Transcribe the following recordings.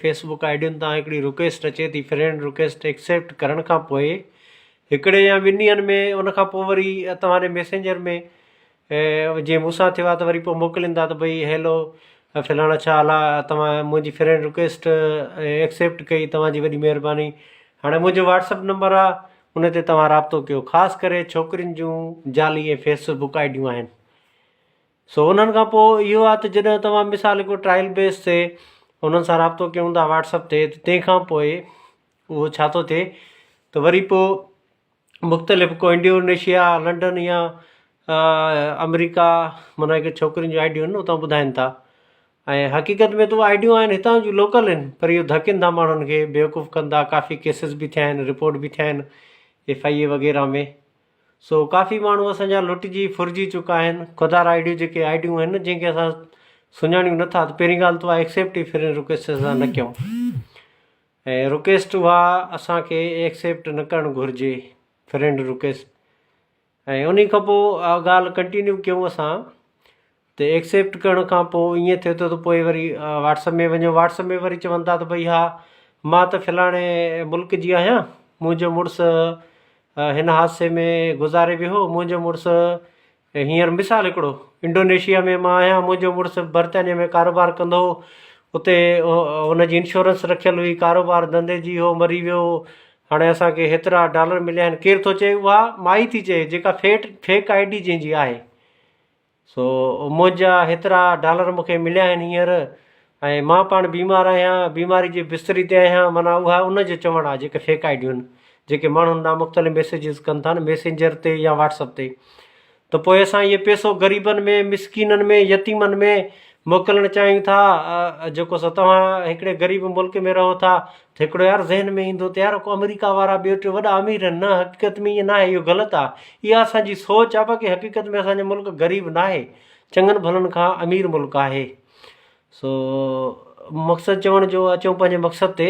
Fee book I D تان هڪڙي request اچي ٿي فرينڊ رڪويسٽ ايڪسيپٽ ڪرڻ کان پوء هڪڙي يا ٻن ڏينهن ۾ ان کان پوء وري توهان جي ميسينجر ۾ جي مون سان ٿيو آهي ته وري پوء موڪلين ٿا ته بھي هيلو فلاڻا ڇا حال آهي توهان منهنجي فرينڊ رڪويسٽ ايڪسيپٽ ڪئي توهان جي وڏي مهرباني هاڻي منهنجو واٽسپ نمبر آهي ان تي توهان رابطو ڪيو خاص ڪري ڇوڪرين جون جعلي ۽ فيس بوڪ آئي ڊيون آهن سو انهن کان پوء اهو آهي ته جڏهن توهان مثال هڪڙو ٽرائل بيس تي انهن سان رابطو ڪيون ٿا واٽس اپ تي ته تنهن کان پوء اهو ڇا ٿو ٿئي ته وري پوء مختلف ڪو انڊونيشيا لنڊن يا آمريڪا معنيٰ هڪ ڇوڪرين جون آئيڊيون آهن اتان ٻڌائين ٿا ۽ حقيقت ۾ ته آئيڊيون آهن هتان جون لوڪل آهن پر اهو ڌڪين ٿا ماڻهن کي بيوقوف ڪن ٿا ڪافي ڪيسز به ٿيا آهن رپورٽ به ٿيا آهن ايف آئي اي وغيره ۾ سو ڪافي ماڻهو اسان جا لٽجي ڦرجي چڪا آهن خدار آئي ڊيون جيڪي آئي ڊيون آهن جن کي اسان سڃاڻيون نه ٿا ته پهرين ڳالهه تو اها ايڪسيپٽ ئي فرينڊ رڪويسٽ اسان نه ڪيون ۽ رڪويسٽ اها اسانکي ايڪسيپٽ نه ڪرڻ گهرجي فرينڊ رڪويسٽ ۽ انهي کان پوء اها ڳالهه ڪنٽينيو ڪيون اسان ته ايڪسيپٽ ڪرڻ کان پوء ائين ٿئي ٿو ته پوء وري واٽس اپ ۾ وڃو واٽس اپ ۾ وري چون ٿا ته بھي ھا مان ته فلاڻي ملڪ جي آھيان منھنجو مڙس ھن حادثي ۾ گذاري ويو ھو منھنجو مڙس ھينئر مثال ھڪڙو انڊونيشيا ۾ مان آھيان منھنجو مڙس برطانيا ۾ ڪاروبار ڪندو ھو اتي ھن جي انشورنس رکيل ھئي ڪاروبار ڌنڌي جي ھو مري ويو ھو ھاڻي اسانکي ھيترا ڊالر مليا آھن ڪير ٿو چئي اھا مائي ٿي چئي جيڪا فيٽ فيڪ آئي ڊي جنھنجي آھي سو منهنجا هيترا ڊالر مون کي مليا آهن هينئر ۽ مان پاڻ بيمار آهيان، بيماري جي بستري تي آهيان، معنيٰ اها ان جو چوڻ آهي جيڪي فيڪ آئيڊيون جيڪي ماڻهن ڏانهن مختلف ميسيجز ڪن ٿا نه ميسينجر تي يا واٽس اپ تي ته پوء اسان اهي پيسو غريبن ۾ مسڪينن ۾ يتيمن ۾ موڪلڻ چاهيون ٿا جيڪو سو توهان هڪڙي غريب ملڪ ۾ رهو ٿا ته هڪڙو يار ذهن ۾ ايندو ته يار آمريڪا وارا ٻيو ٽيو وڏا امير آهن نه حقيقت ۾ ائين ناهي اهو غلط آهي اها اسان جي سوچ آهي باقي حقيقت ۾ اسان جو ملڪ غريب ناهي چڱن ڀلن کان امير ملڪ آهي سو مقصد چوڻ جو اچون پنهنجي مقصد تي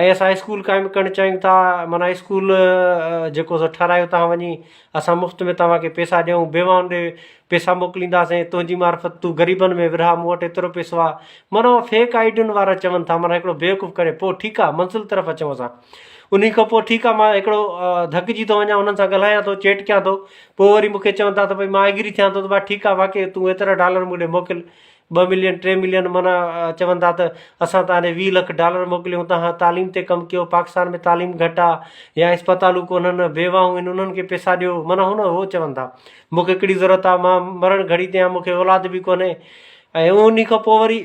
۽ اسان اسڪول قائم ڪرڻ چاهيون ٿا معنيٰ اسڪول جيڪو سو ٺهرايو تان وڃي اسان مفت ۾ توهان کي پيسا ڏيون بيوان ڏي پيسا موڪلينداسين تنهنجي معرفت تون غريبن ۾ ورهاء مون وٽ ايترو پيسو آ معنيٰ اهو فيڪ آئي ڊين وارا چون ٿا معنيٰ هڪڙو بيوقوف ڪري پوء ٺيڪ آ منزل طرف اچون اسان انهي کان پوء ٺيڪ آ مان هڪڙو ڌڪجي ٿو وڃان انهن سان ڳالهايان ٿو چيٽ ڪيان ٿو پوء وري مون کي چون ٿا ته ڀئي مان ايگري ٿيان ٿو ته ڀا ٺيڪ آ واقعي تون ايترا ڊالر مون ڏي موڪل ٻه ملين ٽي ملين معنيٰ چون ٿا ته اسان تان ڏي ويهه لک ڊالر موڪليون تنهن تعليم تي ڪم ڪيو پاڪستان ۾ تعليم گهٽ آ يا اسپتالون ڪونهن بيواهون هن انهن کي پيسا ڏيو معنيٰ هن هو چون ٿا مون کي ڪهڙي ضرورت آ مان مرڻ گهڙي تي آ مون کي اولاد به ڪونهي ۽ انهي کان پوء وري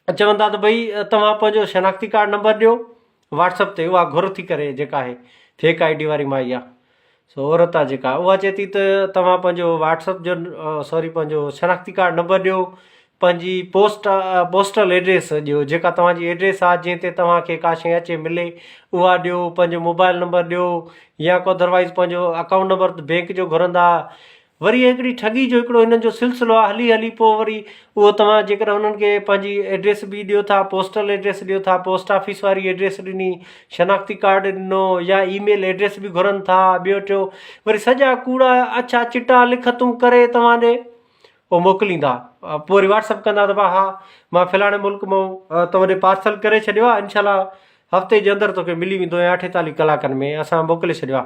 چون ٿا ته ڀئي توهان پنهنجو شناختي ڪارڊ نمبر ڏيو واٽس اپ تي اها گهر ٿي ڪري جيڪا آهي فيڪ آئي ڊي واري مائي آ سو عورت آ جيڪا اها چئي ٿي ته توهان پنهنجو واٽس اپ جو سوري پنهنجو شناختي ڪارڊ نمبر ڏيو پنهنجي پوسٽ پوسٽل ايڊريس ڏيو جيڪا توهانجي ايڊريس آ جنهن تي توهانکي ڪا شي اچي ملي اها ڏيو پنهنجو موبائل نمبر ڏيو يا ڪو ادروائز پنهنجو اڪائونٽ نمبر بينڪ جو گهرندا وري هڪڙي ٺڳي جو هڪڙو هنن جو سلسلو آ هلي هلي پوء وري اهو توهان جيڪڏهن هنن کي پنهنجي ايڊريس به ڏيو ٿا پوسٽل ايڊريس ڏيو ٿا پوسٽ آفيس واري ايڊريس ڏني شناختي ڪارڊ ڏنو يا اي ميل ايڊريس به گهرن ٿا ٻيو ٽيو وري سڄا ڪوڙا اڇا چٽا لکتون ڪري توهان ڏي پوء موڪليندا پوء وري واٽسپ ڪندا ته ڀا ها مان فلاڻي ملڪ مئون توهان ڏي پارسل ڪري ڇڏيو آ انشاء الله هفتي جي اندر توکي ملي ويندو يا اٺيتاليهه ڪلاڪن ۾ اسان موڪلي ڇڏيو آ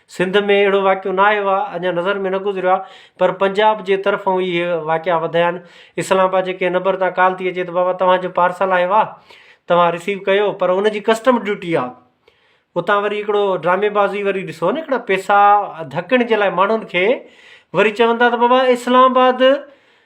سنڌ ۾ اهڙو واقعو نه آيو آهي، اڃا نظر ۾ نه گذريو آهي، پر پنجاب جي طرفون اهي واقعا وڌايا آهن. اسلام آباد جي ڪنهن نبر تان ڪال ٿي اچي ته بابا توهان جو پارسل آيو آهي، توهان رسيو ڪيو، پر ان جي ڪسٽم ڊيوٽي آهي. اتان وري هڪڙو ڊرامي بازي وري ڏسو نه هڪڙا پيسا ڌڪڻ جي لاء ماڻهن کي وري چون ٿا ته بابا اسلام آباد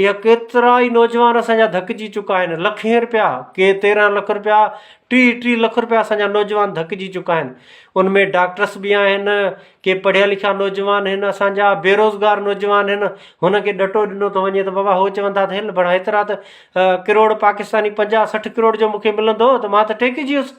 اها ڪيترا ئي نوجوان اسان جا ڌڪجي چڪا آهن لکين رپيا ڪي تيرهن لک رپيا ٽيهه ٽيهه لک رپيا اسان جا نوجوان ڌڪجي چڪا آهن ان ۾ ڊاڪٽرس بي آهن ڪي پڙهيا لکيا نوجوان آهن اسان جا بيروزگار نوجوان آهن هن کي ڏٽو ڏنو ٿو وڃي بابا هو چون ٿا هل بڙا هيترا ته ڪروڙ پاڪستاني پنجاهه سٺ ڪروڙ جو مون کي ملندو هو ته مان ته ٽيڪجي ويس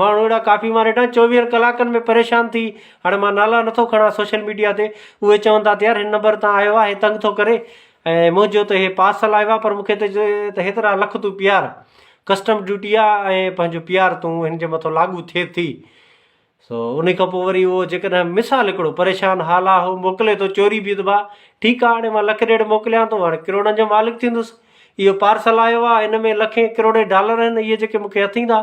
ماڻهو اهڙا ڪافي مان ريٽان چوويهن ڪلاڪن ۾ پريشان ٿي هاڻي مان نالا نٿو کڻان سوشل ميڊيا تي اهي چون ٿا ته يار هن نمبر تان آيو آهي تنگ ٿو ڪري ۽ منهنجو ته اهي پارسل آيو آهي پر مونکي ته چي ته هيترا لک تون پيار ڪسٽم ڊيوٽي آهي ۽ پنهنجو پيار تون هن جي مٿو لاڳو ٿئي ٿي سو ان کان پوء وري اهو جيڪڏهن مثال هڪڙو پريشان حال آهي هو موڪلي ٿو چوري بي ته باه ٺيڪ آهي هاڻي مان لک ڏيڍ موڪليان ٿو هاڻي ڪروڙن جو مالڪ ٿيندس اهو پارسل آيو آهي ان ۾ لکين ڪروڙين ڊالر آهن اهي جيڪي مونکي اٿيندا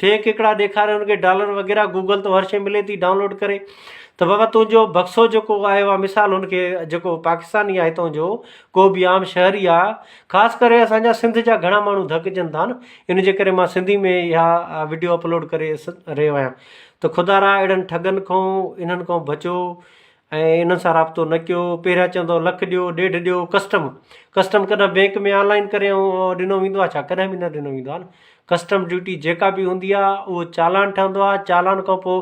فيڪ ھڪڙا ڏيکاري ان کي ڊالر وغيره گوگل تون ھر شئي ملي ٿي ڊائونلوڊ ڪري ته بابا تنھنجو بڪسو جيڪو آيو آ مثال ان کي جيڪو پاڪستاني آ ھتو جو ڪو به عام شھري آ خاص ڪري اسانجا سنڌ جا گھڻا ماڻھو ڌڪجن ٿا ن ان جي ڪري مان سنڌي ۾ اھا وڊيو اپلوڊ ڪري رھيو آھيان ته خدارا اھڙن ٺڳن کون انھن کون بچو ۽ انهن سان رابطو نه ڪيو پهريان چوندو هو لک ڏيو ڏيڍ ڏيو ڪسٽم ڪسٽم ڪڏهن بينڪ ۾ آنلائن ڪري ۽ ڏنو ويندو آهي ڇا ڪڏهن به نه ڏنو ويندو آهي ڪسٽم ڊيوٽي جيڪا به هوندي آهي اهو چالان ٺهندو آهي چالان کان پوء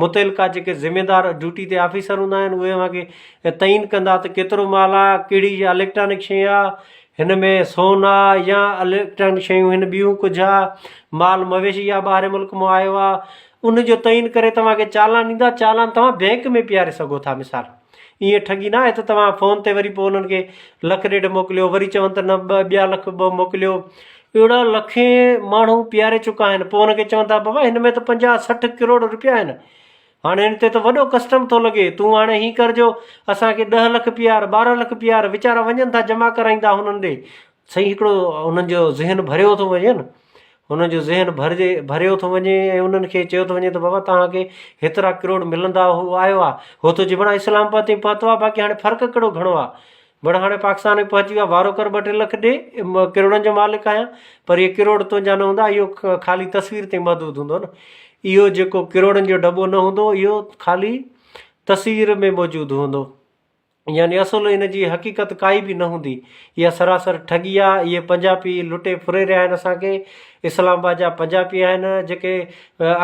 متعلقه جيڪي ذميدار ڊيوٽي تي آفيسر هوندا آهن اهي اوهان کي تعين ڪندا ته ڪيترو مال آهي ڪهڙي شي اليڪٽرانڪ شي آهي هن ۾ سون آهي يا اليڪٽرانڪ شيون هن ٻيون ڪجهه آهي مال مويشي آهي ٻاهرين ملڪ مو آيو آهي ان جو تعين ڪري توهان کي چالان ڏيندا، چالان توهان بئنڪ ۾ پيئاري سگهو ٿا مثال ائين ٺڳي نه آهي ته توهان فون تي وري پوء انهن کي لک ڏيڍ موڪليو وري چون ته نه ٻه ٻيا لک ٻه موڪليو، اهڙا لکين ماڻهو پيئاري چڪا آهن پوء انهن کي چون ٿا بابا هن ۾ ته پنجاهه سٺ ڪروڙ روپيا آهن هاڻي هن تي ته وڏو ڪسٽم ٿو لڳي تون هاڻي هين ڪر جو اسان کي ڏهه لک پيئار ٻارهن لک پيئار ويچارا وڃن ٿا جمع ڪرائيندا هنن ڏي سائين هڪڙو انهن جو ذهن ڀريو ٿو وڃي نه انهن جو ذهن ڀرجي ڀريو ٿو وڃي ۽ انهن کي چيو ٿو وڃي ته بابا تهانکي هيترا ڪروڙ ملندا هو آيو آ هو ٿو چي بڙا اسلام آباد تائين پهتو آ باقي هاڻي فرق ڪهڙو گهڻو آ بڙا هاڻي پاڪستان ۾ پهچي ويو آ وارو ڪر ٻه ٽي لک ڏي ڪروڙن جو مالڪ آهيان پر اهي ڪروڙ تنهنجا نه هوندا اهو خالي تصوير تائين محدود هوندو نه اهو جيڪو ڪروڙن جو ڊٻو نه هوندو اهو خالي تصوير ۾ موجود هوندو يعني اصل ان جي حقيقت ڪائي به نه هوندي. اها سراسر ٺڳي آ. اهي پنجاپي لٽي ڦري رهيا آهن اسان کي. اسلام آباد جا پنجاپي آهن. جيڪي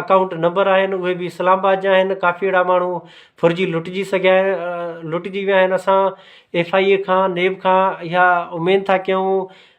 اڪائونٽ نمبر آهن اهي به اسلام آباد جا آهن. ڪافي اهڙا ماڻهو ڦرجي لٽجي سگهيا آهن لٽجي ويا آهن. اسان ايف آء اي کان نيب کان اها اميد ٿا ڪيون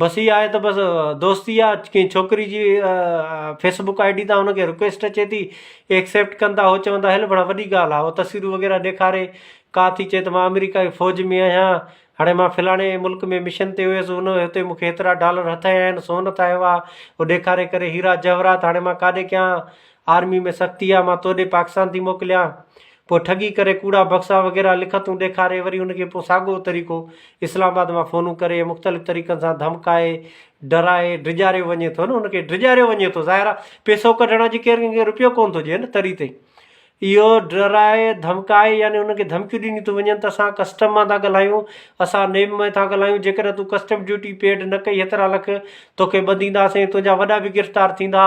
بس اھا آھي ته بس دوستي آ ڪنھن ڇوڪري جي فيس بڪ آئي ڊي تان ان کي رڪويسٽ اچي ٿي ايڪسيپٽ ڪن ٿا ھو چون ٿا ھل پڙا وڏي ڳالھ آ ھو تصويرون وغيره ڏيکاري ڪا ٿي چئي ته مان آمريڪا جي فوج ۾ آھيان ھاڻي مان فلاڻي ملڪ ۾ مشن تي ويس ان اتي مونکي ھيترا ڊالر ھٿ آيا آھن سون ھٿ آيو آ ھو ڏيکاري ڪري ھيرا جواھرات ھاڻي مان ڪاڏي ڪيان آرمي ۾ سختي آ مان توڏي پاڪستان ٿي موڪليان پوء ٺڳي ڪري ڪوڙا بڪسا وغيره لکتون ڏيکاري وري ان کي پوء ساڳئو طريقو اسلام آباد مان فونون ڪري ۽ مختلف طريقن سان ڌمڪائي ڊرائي ڊيڄاريو وڃي ٿو نه ان کي ڊيڄاريو وڃي ٿو ظاهر آهي پيسو ڪڍڻ اڄ ڪير ڪنهن کي روپيو ڪونه ٿو ڏئي نه تري تي اهو ڊرائي ڌمڪائي يعني ان کي ڌمڪيون ڏنيون ٿيون وڃن ته اسان ڪسٽم مان ٿا ڳالهايون اسان نيم ۾ ٿا ڳالهايون جيڪڏهن تون ڪسٽم ڊيوٽي پيڊ نه ڪئي هيترا لک تون کي ٻڌينداسين تنهنجا وڏا به گرفتار ٿيندا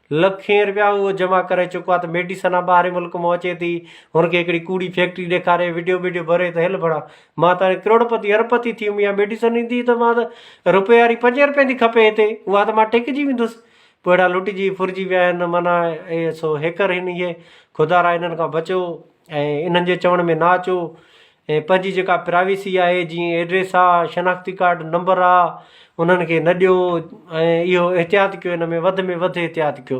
لکين رپيا اهو جمع ڪري چڪو آهي ته ميڊيسن ها ٻاهرين ملڪ مون اچي ٿي هن کي هڪڙي ڪوڙي فيڪٽري ڏيکاري وڊيو بڊيو ڀري ته هل ڀڙا مان ته هاڻي ڪروڙپتي اربپتي ٿي ويم اها ميڊيسن ايندي ته مان ته رپئي واري پنجين رپين ٿي کپي هتي اها ته مان ٽيڪجي ويندس پوء هيڏا لٽجي ڦرجي ويا آهن معنيٰ اهي سو هيڪر هن اهي خدارا هنن کان بچو ۽ انهن جي چوڻ ۾ نه اچو ۽ پنهنجي جيڪا پرائيويسي آهي جيئن ايڊريس آ شناختي ڪارڊ نمبر آ انهن کي نه ڏيو ۽ اهو احتياط ڪيو ان ۾ وڌ ۾ وڌ احتياط ڪيو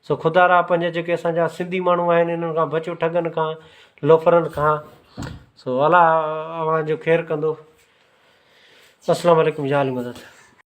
سو خدا را پنهنجا جيڪي اسانجا سنڌي ماڻهو آهن انهن کان بچو ٺڳن کان لوفرن کان سو الله اوهان جو خير ڪندو السلام عليڪم جا علي مدد